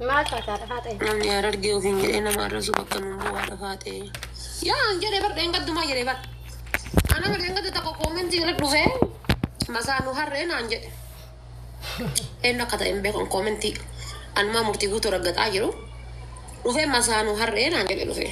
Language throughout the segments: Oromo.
Maal taataa dhafaa ta'e? Namni harargee ofiin jedhee nama arrabsu bakka nuun bu'aa dhafaa ta'e. Yaa an jedhee bar dheengaddumaa jedhee bar. Ana ma dheengadda tokko koomentii irra dhufee masaa nu harree naan jedhe. Eenyu akka ta'e hin beekan koomentii. Anumaa murtii guutuu raggaxaa jiru. Dhufee masaa nu harree naan jedhe dhufee.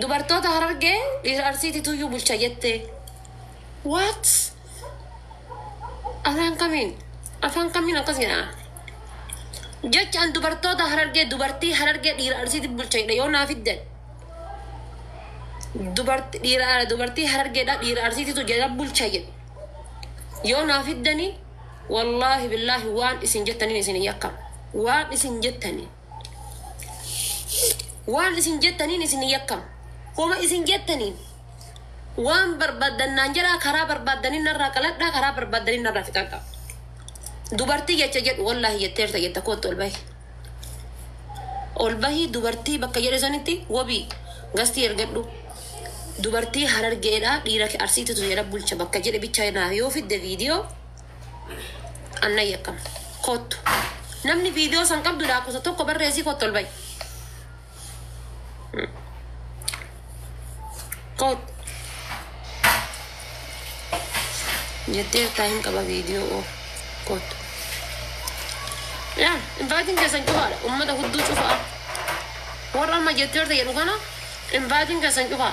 Dubartoota Harargee dhiira Arsiitituyyuu bulcha jette. What? Afaan kamiin? Afaan kamiin akkas jedha? Jecha an dubartoota Harargee dubartii Harargee dhiira Arsiiti bulcha jedhe yoo naa fiddan. Dubarti dhiira dubartii Harargeedha dhiira Arsiititu jedha bulcha jedhe. Yoo naa fiddanii wallaahi billaahi waan isin jettaniin isin hin yakkama. Waan isin jettaniin. Waan isin jettaniin isin yakkam. Homa isin jettaniin waan barbaaddan naan jedhaa karaa barbaaddanin narraa qaladhaa karaa barbaaddanin narraa fixadhaa. Dubartii jecha jedhu wallaahi jetteerta jetta kootti ol bahi. Ol bahi dubartii bakka jedhe sanitti wabii gastii ergadhu. Dubartii harargeedhaa dhiira arsiititu jedha bulcha bakka jedhe bichaa naaf yoo fidde viidiyoo. Anna yakkama. Kottu. Namni viidiyoo san qabdu laakosa tokko barreessii kottu ol ba'i. Kottu. Jettee irtaa hin qaba viidiyoo oo. Kottu. Yaa, invaatiin keessan cufaadha. Uummata hudduu cufaa. Warra amma jettee irta jedhu kana invaatiin keessan cufaa.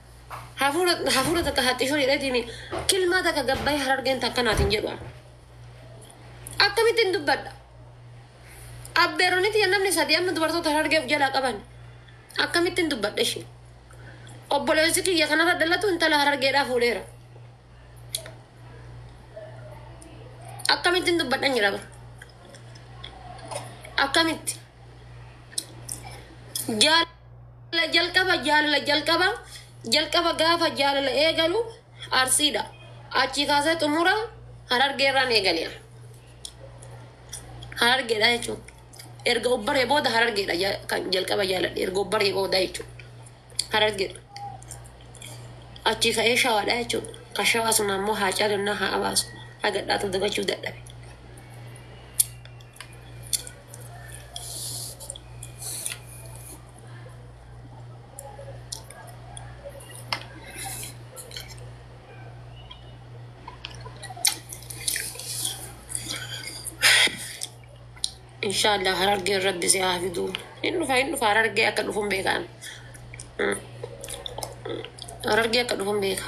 Hafuura hafuura takka haxxishoo jedheetiimi kilmaa takka gabbayee harargeen takka naatiin jedhu ani. Akkamittiin dubbadha? Abbeeroniti namni sadii amma dubartoota harargee of jalaa qaban akkamittiin dubbadha ishee? Obboleessi kiyya kanarra dhalatu intala harargeedhaa fuudheera. Akkamittiin dubbadhan jedha bara. Akkamitti? Jaal Jaalala jalqaba jaalala jalqaba jalqaba gaafa jaalala eegalu arsiidha. Achii kaasee xumura harargee irraan eegale. Harargeedha jechuun erga obbaree booda harargeedha ja- kan jalqaba jaaladhe erga obbaree booda jechuun harargeedha. Achii ka'ee shawaadha jechuun kan shawaa sun ammoo haa caalonnaa haa abaasu hagadhaatu dagachuu dadhabe. Inshaallah harargeen rabbi si haa fiduu. Hin dhufa hin dhufa harargee akka dhufuun beekaan. Mm. Harargee akka dhufuun beeka.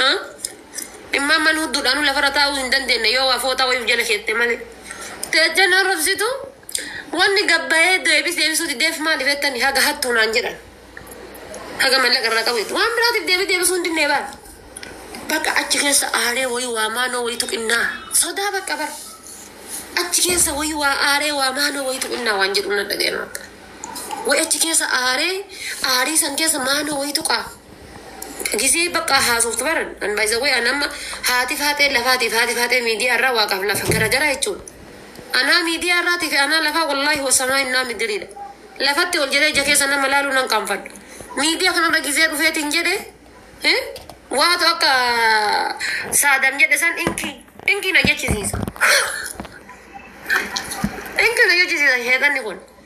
Ha? Dhimma amman hudduudhaanuu lafarra taa'uu hin dandeenye yoo waa fooxaa wayii of jala keette malee. Teecha na rofsitu wanni gabbayee deebis deebisuu dideef maaliif jettani haga hattuu naan jedhan. Haga mallaqa irraa qabu jetti. Waan biraatiif deebii deebisuu hin dinnee baal. Bakka achi keessa aaree wayii waa maanoo wayiitu qinnaa. Sodaa bakka bara. Achi keessa wayii waa aaree waa maanoo wayiitu qinnaa waan jedhu na dhaga'e bakka. Wayi achi keessa aaree aarii san keessa maanoo wayiitu qaa. Gizee baqqaa haasoftu bar an by the way an amma haati faaxee lafaatiif haati faaxee miidiyaa irraa waaqaaf lafa garagara jechuudha. Anaa miidiyaa irraatii fi anaa lafaa wallaahi wasamaa innaa midiriidha. Lafatti ol jedhee ija keessa nama laaluu nan qaanfadha. Miidiyaa kanarra gizee dhufeetiin jedhe eh, waatu akka saadam jedhe san inkii inkii na jechisiisa. Inkii na jechisiisa sheexanni kun.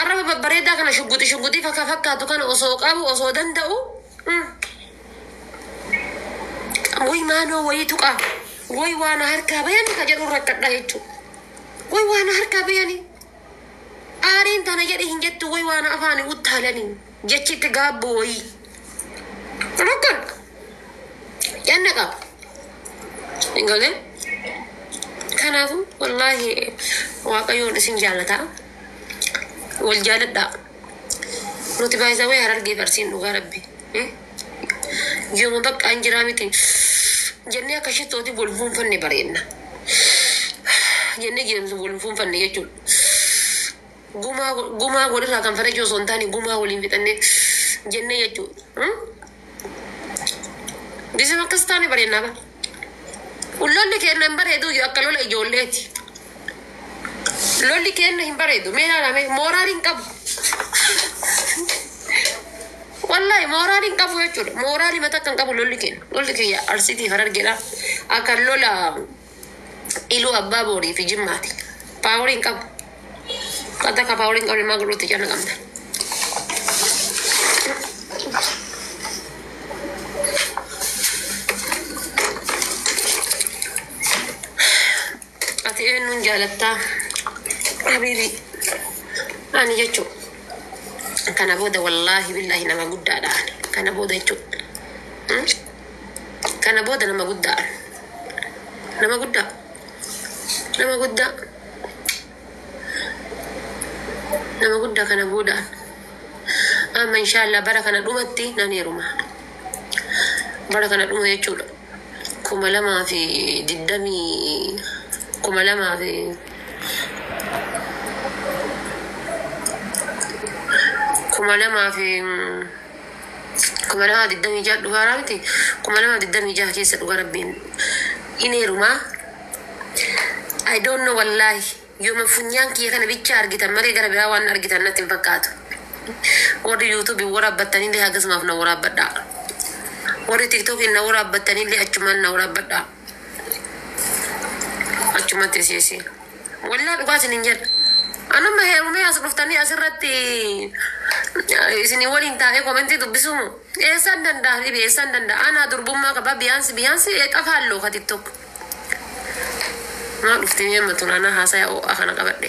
Arraba babbareedaa kana shugguxi shugguxii faka fakkaatu kana osoo qabu osoo danda'u mm, woy maanoo woyii tuqaa woy waana harkaa bayani ka jedhu rakkadha jechuu woy waana harkaa bayani aariin tana jedhi hin jettu woy waana afaani uttaalanii Jechi itti gaabbu woyii. Rukun. Yanna qaba. Hin galee. Kanaafu wallaahi waaqayyoon isin jaalata. Wal jaaladhaa. Nuti baay'isawee harargee farsiin dhugaa rabbi. Hmm? Yooma bakka an jiraa miti. Jennee akka shittooti wal fuunfanne bareenna. Jennee jeemsu wal fuunfanne jechuudha. Gumaa gumaa wal irraa kanfalachuu osoo hin taane gumaa waliin fixanne jenne jechuu. Bisim akkas taane bareennaa ba. Lolli keenna hin bareedu iyyuu akka lola ijoolleeti. Lolli keenna hin bareedu mee ilaala mee mooraal hin qabu. Wallahi mooraal hin qabu jechuudha. Mooraal himata akka hin qabu lolli keenna. Lolli kiyya arsiitii harargeedha. Akka lola Iluu Abbaa Boorii fi Jimmaati. Paaworii hin qabu. Qatta ka paaworii hin qabne maa godhuutti cana qabna. Ati eenyuun jaalattaa? Habiibii. Ani jechuu. Kana booda wallaahi billaahi nama guddaadha. Kana booda jechuudha. Kana booda nama guddaa. Nama guddaa. Nama guddaa. Nama guddaa kana booda. Amma inshaallah bara kana dhumatti nan heeruma. Bara kana dhuma jechuudha. Kuma lamaa fi digdamii kuma lamaa fi kuma lamaa fi kuma lamaa digdamii ja'a dhugaa irraa miti kuma lamaa digdamii ja'a keessa dhuga rabbiin in heerumaa I don't know wallaahi yooma funyaan kiyya kana bicha argitan malee gara biraa waan argitan natti hin fakkaatu warri yuutuubi waraabbattaniillee hagasumaaf na waraabbadhaa warri tiktokiin na waraabbattanillee achumaan na waraabbadhaa Achumatti si si. Wallah dhugaa isinin jedha. An amma heerumee as dhuftanii asirratti isinii waliin taa'ee komentii dubbisuu moo? Eessaan danda'a habibi eessaan danda'a? Anaa durbummaa qaba biyaansi biyaansi eexafa halloo ka tiktok. Maa dhufti mee amma tun anaa haasaya oo'a kana qabadhe.